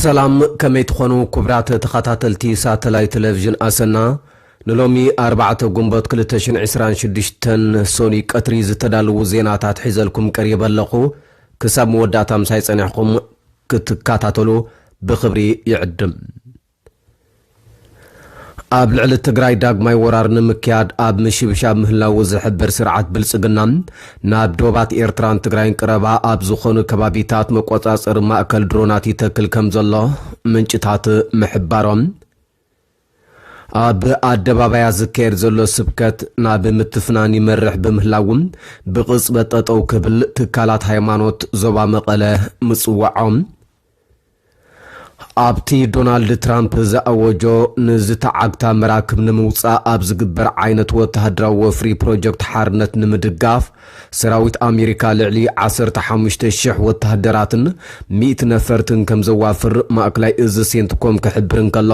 ሰላም ከመይ ትኾኑ ኩቡራት ተኻታተልቲ ሳተላይት ተለቪዥን ኣሰና ንሎሚ ኣርባዕተ ጉንቦት ክልተ ሽሕን ዕስራን ሽዱሽተን ሰኑይ ቀትሪ ዝተዳልዉ ዜናታት ሒዘልኩም ቀሪበ ኣለኹ ክሳብ መወዳእታ ምሳይ ጸኒሕኹም ክትካታተሉ ብኽብሪ ይዕድም። ኣብ ልዕሊ ትግራይ ዳግማይ ወራር ንምክያድ ኣብ ምሽብሻብ ምህላዉ ዝሕብር ስርዓት ብልጽግና፣ ናብ ዶባት ኤርትራን ትግራይን ቅረባ ኣብ ዝኾኑ ከባቢታት መቆጻጸሪ ማእከል ድሮናት ይተክል ከምዘሎ ምንጭታት ምሕባሮም፣ ኣብ ኣደባባያት ዝካየድ ዘሎ ስብከት ናብ ምትፍናን ይመርሕ ብምህላዉ ብቕጽበት ጠጠው ክብል ትካላት ሃይማኖት ዞባ መቐለ ምጽዋዖም፣ ኣብቲ ዶናልድ ትራምፕ ዝኣወጆ ንዝተዓግታ መራክብ ንምውጻእ ኣብ ዝግበር ዓይነት ወተሃደራዊ ወፍሪ ፕሮጀክት ሓርነት ንምድጋፍ ሰራዊት ኣሜሪካ ልዕሊ ዓሰርተ ሓሙሽተ ሽሕ ወተሃደራትን ሚእቲ ነፈርትን ከም ዘዋፍር ማእከላይ እዚ ሴንትኮም ክሕብር እንከሎ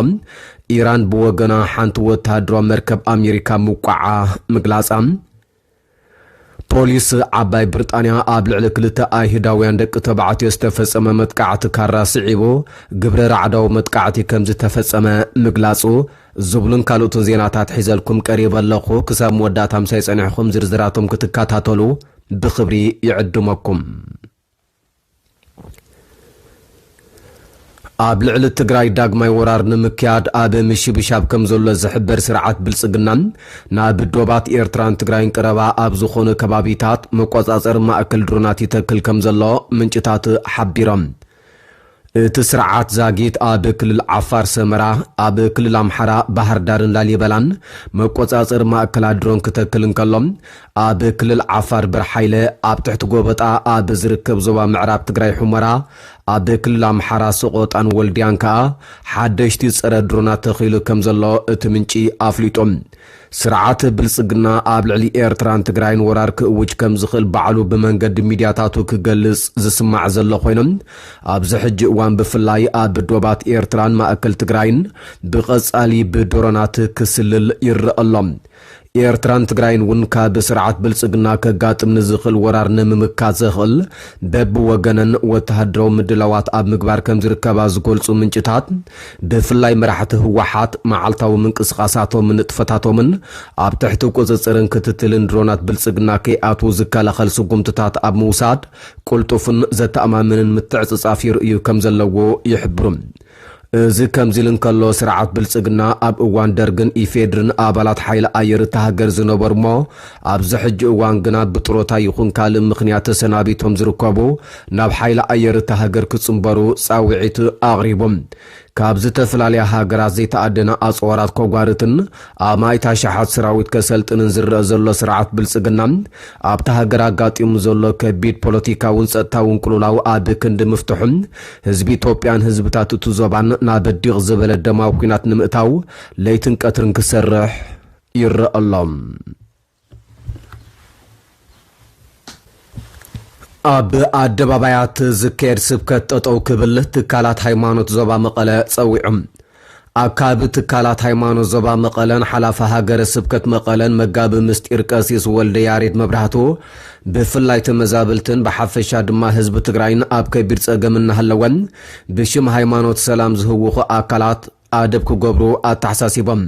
ኢራን ብወገና ሓንቲ ወተሃደራዊ መርከብ ኣሜሪካ ምውቃዓ ምግላጻ ፖሊስ ዓባይ ብርጣንያ ኣብ ልዕሊ ክልተ ኣይሁዳውያን ደቂ ተባዕትዮ ዝተፈጸመ መጥቃዕቲ ካራ ስዒቡ ግብረ ራዕዳዊ መጥቃዕቲ ከምዝተፈጸመ ምግላጹ ዝብሉን ካልኦትን ዜናታት ሒዘልኩም ቀሪበ ኣለኹ። ክሳብ መወዳእታ ምሳይ ጸኒሕኹም ዝርዝራቶም ክትከታተሉ ብኽብሪ ይዕድመኩም። ኣብ ልዕሊ ትግራይ ዳግማይ ወራር ንምክያድ ኣብ ምሽብሻብ ከም ዘሎ ዝሕበር ስርዓት ብልጽግና ናብ ዶባት ኤርትራን ትግራይን ቀረባ ኣብ ዝኾኑ ከባቢታት መቆጻጸሪ ማእከል ድሮናት ይተክል ከም ዘሎ ምንጭታት ሓቢሮም። እቲ ስርዓት ዛጊት ኣብ ክልል ዓፋር ሰመራ፣ ኣብ ክልል ኣምሓራ ባህርዳርን ላሊበላን መቆጻጸሪ ማእከላት ድሮን ክተክል እንከሎ፣ ኣብ ክልል ዓፋር በርሓይለ፣ ኣብ ትሕቲ ጎበጣ ኣብ ዝርከብ ዞባ ምዕራብ ትግራይ ሑመራ፣ ኣብ ክልል ኣምሓራ ሰቖጣን ወልድያን ከኣ ሓደሽቲ ጸረ ድሮናት ተኺሉ ከምዘሎ እቲ ምንጪ ኣፍሊጡ። ስርዓት ብልጽግና ኣብ ልዕሊ ኤርትራን ትግራይን ወራር ክእውጅ ከም ዝኽእል ባዕሉ ብመንገዲ ሚድያታቱ ክገልጽ ዝስማዕ ዘሎ ኮይኑ፣ ኣብዚ ሕጂ እዋን ብፍላይ ኣብ ዶባት ኤርትራን ማእከል ትግራይን ብቐጻሊ ብድሮናት ክስልል ይረኣ ኣሎ። ኤርትራን ትግራይን እውን ካብ ስርዓት ብልጽግና ከጋጥም ንዝኽእል ወራር ንምምካት ዘኽእል በብወገነን ወተሃደራዊ ምድላዋት ኣብ ምግባር ከም ዝርከባ ዝገልጹ ምንጭታት፣ ብፍላይ መራሕቲ ህወሓት መዓልታዊ ምንቅስቓሳቶምን ንጥፈታቶምን ኣብ ትሕቲ ቁፅፅርን ክትትልን ድሮናት ብልፅግና ከይኣትዉ ዝከላኸል ስጉምትታት ኣብ ምውሳድ ቅልጡፍን ዘተኣማምንን ምትዕፅፃፍ ይርእዩ ከም ዘለዎ ይሕብሩ። እዚ ከምዚ ኢሉ እንከሎ ስርዓት ብልፅግና ኣብ እዋን ደርግን ኢፌድሪን ኣባላት ሓይሊ ኣየር እታ ሃገር ዝነበሩ'ሞ ኣብዚ ሕጂ እዋን ግና ብጥሮታ ይኹን ካልእ ምኽንያት ተሰናቢቶም ዝርከቡ ናብ ሓይሊ ኣየር እታ ሃገር ክጽንበሩ ጻውዒት ኣቕሪቦም ካብ ዝተፈላለያ ሃገራት ዘይተኣደነ ኣጽዋራት ከጓርትን ኣማኢት ኣሽሓት ሰራዊት ከሰልጥንን ዝረኣ ዘሎ ስርዓት ብልጽግና ኣብታ ሃገር ኣጋጢሙ ዘሎ ከቢድ ፖለቲካውን ጸጥታውን ቅልውላው ኣብ ክንዲ ምፍትሑ ህዝቢ ኢትዮጵያን ህዝብታት እቲ ዞባን ናብ ዲቕ ዝበለ ደማዊ ኲናት ንምእታው ለይትን ቀትርን ክሰርሕ ይረኣ ኣሎ። ኣብ ኣደባባያት ዝካየድ ስብከት ጠጠው ክብል ትካላት ሃይማኖት ዞባ መቐለ ጸዊዖም። ኣካቢ ትካላት ሃይማኖት ዞባ መቐለን ሓላፊ ሃገረ ስብከት መቐለን መጋቢ ምስጢር ቀሲስ ወልደ ያሬድ መብራህቱ ብፍላይ ተመዛበልትን ብሓፈሻ ድማ ህዝቢ ትግራይን ኣብ ከቢድ ጸገም እናሃለወን ብሽም ሃይማኖት ሰላም ዝህውኹ ኣካላት ኣደብ ክገብሩ ኣተሓሳሲቦም።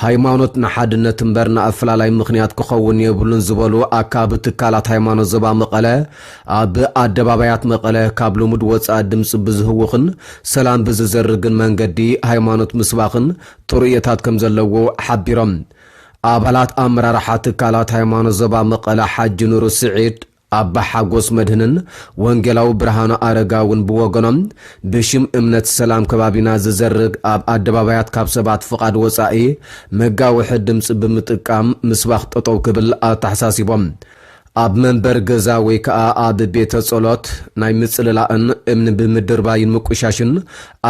ሃይማኖት ንሓድነት እምበር ንኣፈላላይ ምኽንያት ክኸውን የብሉን ዝበሉ ኣካቢ ትካላት ሃይማኖት ዞባ መቐለ ኣብ ኣደባባያት መቐለ ካብ ልሙድ ወፃኢ ድምፂ ብዝህውኽን ሰላም ብዝዘርግን መንገዲ ሃይማኖት ምስባኽን ጥሩየታት ከምዘለዎ ሓቢሮም። ኣባላት ኣመራርሓ ትካላት ሃይማኖት ዞባ መቐለ ሓጂ ኑሩ ስዒድ፣ ኣባ ሓጎስ መድህንን ወንጌላዊ ብርሃኑ ኣረጋውን ብወገኖም፣ ብሽም እምነት ሰላም ከባቢና ዝዘርግ ኣብ ኣደባባያት ካብ ሰባት ፍቓድ ወጻኢ መጋውሒ ድምጺ ብምጥቃም ምስባኽ ጠጠው ክብል ኣተሓሳሲቦም። ኣብ መንበሪ ገዛ ወይ ከኣ ኣብ ቤተ ጸሎት ናይ ምጽልላእን እምኒ ብምድርባይን ምቁሻሽን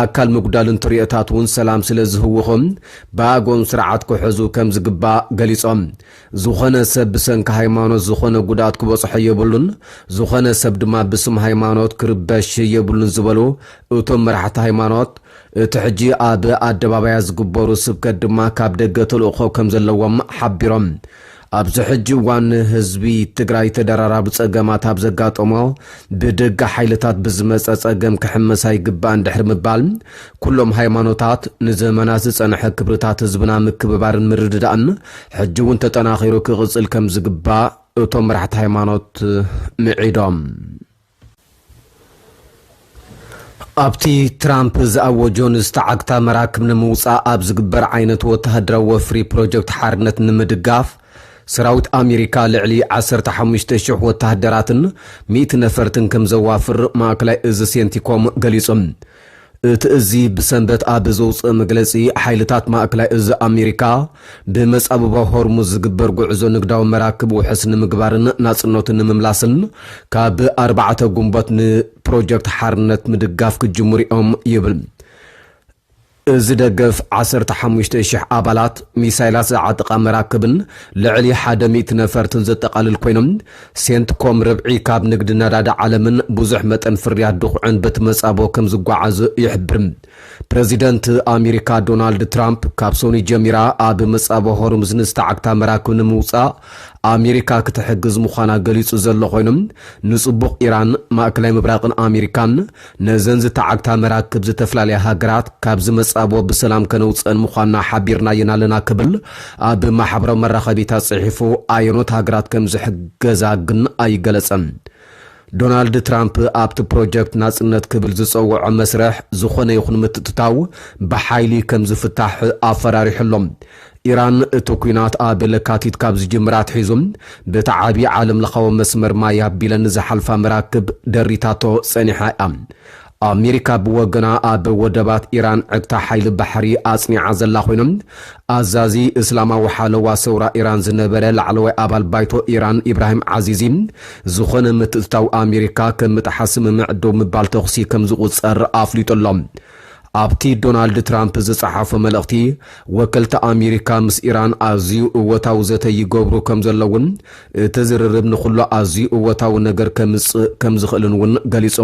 ኣካል ምጉዳልን ተርእዮታት እውን ሰላም ስለ ዝህውኹ ብኣግኦም ስርዓት ክሕዙ ከም ዝግባእ ገሊጾም። ዝኾነ ሰብ ብሰንኪ ሃይማኖት ዝኾነ ጉድኣት ክበፅሖ የብሉን፣ ዝኾነ ሰብ ድማ ብስም ሃይማኖት ክርበሽ የብሉን ዝበሉ እቶም መራሕቲ ሃይማኖት፣ እቲ ሕጂ ኣብ ኣደባባያት ዝግበሩ ስብከት ድማ ካብ ደገ ተልእኾ ከምዘለዎም ሓቢሮም። ኣብዚ ሕጂ እዋን ህዝቢ ትግራይ ተደራራቢ ፀገማት ኣብ ዘጋጠሞ ብደገ ሓይልታት ብዝመፀ ፀገም ክሕመስ ኣይግባእን ድሕሪ ምባል ኩሎም ሃይማኖታት ንዘመናት ዝጸንሐ ክብርታት ህዝብና ምክብባርን ምርድዳእን ሕጂ እውን ተጠናኺሩ ክቕጽል ከም ዝግባእ እቶም መራሕቲ ሃይማኖት ምዒዶም። ኣብቲ ትራምፕ ዝኣወጆ ንዝተዓግታ መራክብ ንምውፃእ ኣብ ዝግበር ዓይነት ወተሃደራዊ ወፍሪ ፕሮጀክት ሓርነት ንምድጋፍ ሰራዊት ኣሜሪካ ልዕሊ 15,000 ወተሃደራትን ሚእቲ ነፈርትን ከም ዘዋፍር ማእከላይ እዚ ሴንቲኮም ገሊጹ። እቲ እዚ ብሰንበት ኣብ ዘውጽኦ መግለጺ፣ ሓይልታት ማእከላይ እዚ ኣሜሪካ፣ ብመጻብቦ ሆርሙዝ ዝግበር ጉዕዞ ንግዳዊ መራክብ ውሑስ ንምግባርን ናጽነቱ ንምምላስን ካብ ኣርባዕተ ግንቦት ንፕሮጀክት ሓርነት ምድጋፍ ክጅምሩ'ዮም ይብል። እዚ ደገፍ፣ ዓሰርተ ሓሙሽተ ሽሕ ኣባላት፣ ሚሳይላት ዝዓጥቓ መራክብን ልዕሊ ሓደ ሚእቲ ነፈርትን ዘጠቓልል ኮይኑ፣ ሴንትኮም ርብዒ ካብ ንግዲ ነዳዲ ዓለምን ብዙሕ መጠን ፍርያት ድኹዕን በቲ መጻብቦ ከም ዝጓዓዙ ይሕብር። ፕረዚደንት ኣሚሪካ ዶናልድ ትራምፕ ካብ ሰኑይ ጀሚራ ኣብ መጻብቦ ሆርሙዝ ንዝተዓግታ መራክብ ንምውጻእ ኣሚሪካ ክትሕግዝ ምዃና ገሊጹ ዘሎ ኮይኑ ንጽቡቕ ኢራን፣ ማእከላይ ምብራቕን ኣሚሪካን ነዘን ዝተዓግታ መራክብ ዝተፈላለያ ሃገራት ካብ ዝመጻብኦ ብሰላም ከነውጽእን ምዃንና ሓቢርናየን ኣለና ክብል ኣብ ማሕበራዊ መራኸቢታት ጽሒፉ ኣየኖት ሃገራት ከም ዝሕገዛ ግን ኣይገለጸን። ዶናልድ ትራምፕ ኣብቲ ፕሮጀክት ናጽነት ክብል ዝጸውዖ መስርሕ ዝኾነ ይኹን ምትእትታው ብሓይሊ ከም ዝፍታሕ ኣፈራሪሑ ኣሎ። ኢራን እቲ ኲናት ኣብ ለካቲት ካብ ዝጅምር ኣትሒዙ በቲ ዓቢ ዓለምለኻዊ መስመር ማይ ኣቢለን ዝሓልፋ መራክብ ደሪታቶ ጸኒሓ እያ። ኣሜሪካ ብወገና ኣብ ወደባት ኢራን ዕግታ ሓይሊ ባሕሪ ኣጽኒዓ ዘላ ኾይኑ፣ ኣዛዚ እስላማዊ ሓለዋ ሰውራ ኢራን ዝነበረ ላዕለዋይ ኣባል ባይቶ ኢራን ኢብራሂም ዓዚዚ ዝኾነ ምትእትታው ኣሜሪካ ከም ምጥሓስ ስምምዕ ደው ምባል ተኹሲ ከም ዝቑጸር ኣፍሊጡ ኣሎ። ኣብቲ ዶናልድ ትራምፕ ዝጸሓፎ መልእኽቲ፣ ወከልቲ ኣሜሪካ ምስ ኢራን ኣዝዩ እወታዊ ዘተ ይገብሩ ከም ዘለዉን እቲ ዝርርብ ንዅሉ ኣዝዩ እወታዊ ነገር ከምጽእ ከም ዝኽእልን እውን ገሊጹ።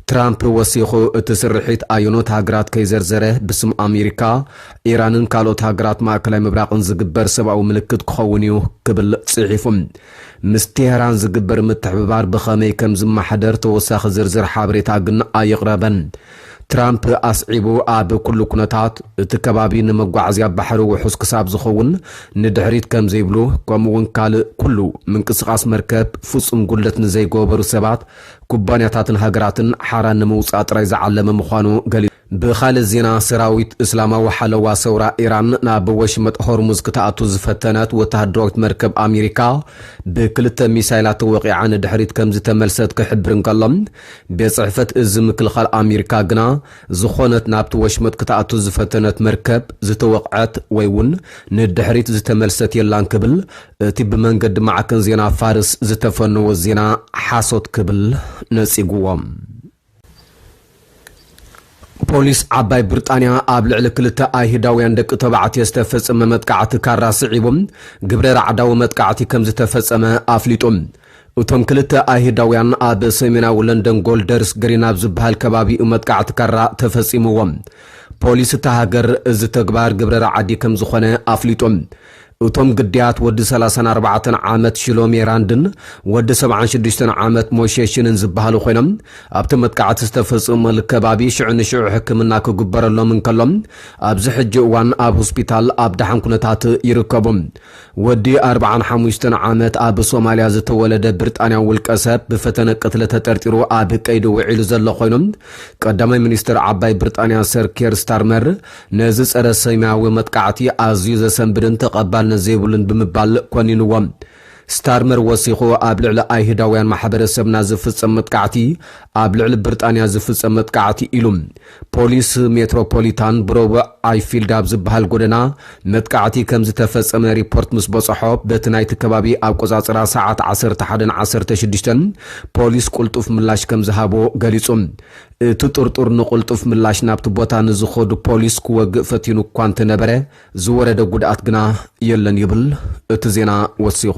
ትራምፕ ወሲኹ፣ እቲ ስርሒት ኣየኖት ሃገራት ከይዘርዘረ ብስም ኣሜሪካ፣ ኢራንን ካልኦት ሃገራት ማእከላይ ምብራቕን ዝግበር ሰብኣዊ ምልክት ክኸውን እዩ ክብል ጽሒፉ። ምስ ቴህራን ዝግበር ምትሕብባር ብኸመይ ከም ዝመሓደር ተወሳኺ ዝርዝር ሓበሬታ ግን ኣየቕረበን። ትራምፕ ኣስዒቡ፣ ኣብ ኩሉ ኩነታት፣ እቲ ከባቢ ንመጓዓዝያ ባሕሪ ውሑስ ክሳብ ዝኸውን ንድሕሪት ከም ዘይብሉ፣ ከምኡ'ውን ካልእ ኩሉ ምንቅስቓስ መርከብ ፍጹም ጉድለት ንዘይገበሩ ሰባት፣ ኩባንያታትን ሃገራትን ሓራ ንምውጻእ ጥራይ ዝዓለመ ምዃኑ ገሊጹ። ብኻልእ ዜና፣ ሰራዊት እስላማዊ ሓለዋ ሰውራ ኢራን ናብ ወሽመጥ ሆርሙዝ ክትኣቱ ዝፈተነት ወተሃደራዊት መርከብ ኣሜሪካ ብክልተ ሚሳይላት ተወቒዓ ንድሕሪት ከም ዝተመልሰት ክሕብር እንከሎ፣ ቤት ጽሕፈት እዝ ምክልኻል ኣሜሪካ ግና ዝኾነት ናብቲ ወሽመጥ ክትኣቱ ዝፈተነት መርከብ ዝተወቕዐት ወይ እውን ንድሕሪት ዝተመልሰት የላን ክብል እቲ ብመንገዲ ማዕከን ዜና ፋርስ ዝተፈነወ ዜና ሓሶት ክብል ነጺጉዎ። ፖሊስ ዓባይ ብርጣንያ ኣብ ልዕሊ ክልተ ኣይህዳውያን ደቂ ተባዕትዮ ዝተፈጸመ መጥቃዕቲ ካራ ስዒቡ ግብረ ራዕዳዊ መጥቃዕቲ ከምዝተፈጸመ ኣፍሊጡ። እቶም ክልተ ኣይህዳውያን ኣብ ሰሜናዊ ለንደን ጎልደርስ ግሪን ኣብ ዝበሃል ከባቢ'ዩ መጥቃዕቲ ካራ ተፈጺምዎም። ፖሊስ እታ ሃገር እዚ ተግባር ግብረ ራዕዲ ከምዝኾነ ኣፍሊጡ። እቶም ግዳያት ወዲ ሰላሳን ኣርባዕተን ዓመት ሽሎሜ ራንድን ወዲ ሰብዓን ሽዱሽተን ዓመት ሞሼ ሺንን ዝበሃሉ ኮይኖም፣ ኣብቲ መጥቃዕቲ ዝተፈጽመሉ ከባቢ ሽዑ ንሽዑ ሕክምና ክግበረሎም እንከሎ፣ ኣብዚ ሕጂ እዋን ኣብ ሆስፒታል ኣብ ደሓን ኩነታት ይርከቡ። ወዲ ኣርብዓን ሓሙሽተን ዓመት ኣብ ሶማልያ ዝተወለደ ብርጣንያዊ ውልቀሰብ ብፈተነ ቅትለት ተጠርጢሩ ኣብ ቀይዲ ውዒሉ ዘሎ ኮይኑ፣ ቀዳማይ ሚኒስተር ዓባይ ብርጣንያ ሰር ኬር ስታርመር ነዚ ጸረ ሰሜያዊ መጥቃዕቲ ኣዝዩ ዘሰንብድን ተቐባልነት ዘይብሉን ብምባል ኮኒንዎ። ስታርመር ወሲኹ ኣብ ልዕሊ ኣይሁዳውያን ማሕበረሰብና ዝፍጸም መጥቃዕቲ ኣብ ልዕሊ ብርጣንያ ዝፍጸም መጥቃዕቲ ኢሉ። ፖሊስ ሜትሮፖሊታን ብረቡዕ ኣይፊልድ ኣብ ዝበሃል ጎደና መጥቃዕቲ ከም ዝተፈጸመ ሪፖርት ምስ በጸሖ በቲ ናይቲ ከባቢ ኣቆጻጽራ ሰዓት ዓሰርተ ሓደን ዓሰርተ ሽዱሽተን ፖሊስ ቁልጡፍ ምላሽ ከም ዝሃቦ ገሊጹ። እቲ ጥርጡር ንቕልጡፍ ምላሽ ናብቲ ቦታ ንዝኸዱ ፖሊስ ክወግእ ፈቲኑ እኳ እንተነበረ፣ ዝወረደ ጉድኣት ግና የለን ይብል እቲ ዜና ወሲኹ።